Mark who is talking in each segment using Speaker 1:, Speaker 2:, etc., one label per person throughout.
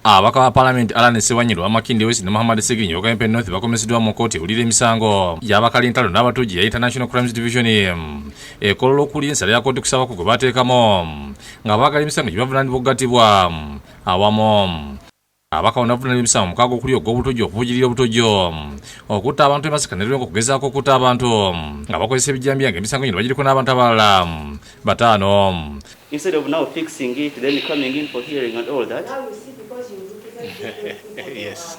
Speaker 1: Ababaka ba palamenti Allan Ssewanyirwa, Makindye West ne Muhammad Seginyi owa Kawempe North bakomeseddwa mu kkooti ewulira emisango gy'abakali entalo n'abatujju ya International Crimes Division ekolola okuli ensala ya kkooti kusaba ku gwe bateekamu ng'abaagala emisango gye bavunaanibwa okugattibwa awamu abaka onavunana emisango mukaaga okuli ogw'obutujju okuvujirira obutujju okutta abantu emasaka ne lwenga okugezaako okutta abantu nga bakozesa ebijjambiya nga emisango gino bagiriko n'abantu abalala bataano Instead of now
Speaker 2: fixing it, then coming in for hearing and all that. Now
Speaker 3: you see because you look exactly. yes.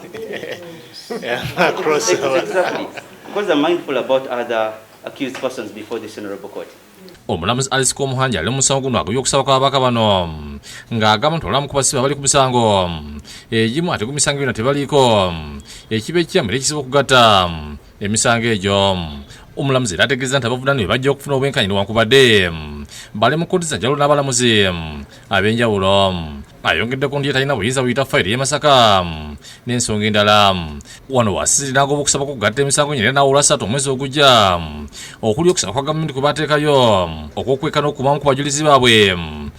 Speaker 3: yeah, across exactly.
Speaker 2: Because I'm mindful about other accused persons before this honorable court. omulamuzi alice
Speaker 1: komuhanja ali musango guno agobye okusaba kwababaka bano ng'agamba nti olamu kubasiba bali ku misango egimu ate ku misango yona tebaliiko ekiba ekiyambira ekizibu okugatta emisango egyo omulamuzi era ategeeza nti abavunaanibwe bajja okufuna obwenkanyi newankubadde bali mu kkooti zanjalo n'abalamuzi ab'enjawulo ayongedde ku ndiye talina buyinza buyita fayiro y'e masaka n'ensonga endala wano wasisiri n'agoba okusaba kugatta emisango nyina n'awula satu omwezi ogujja okuli okusaba kwa gavumenti kwe bateekayo okwokweka n'okubamu ku bajulizi baabwe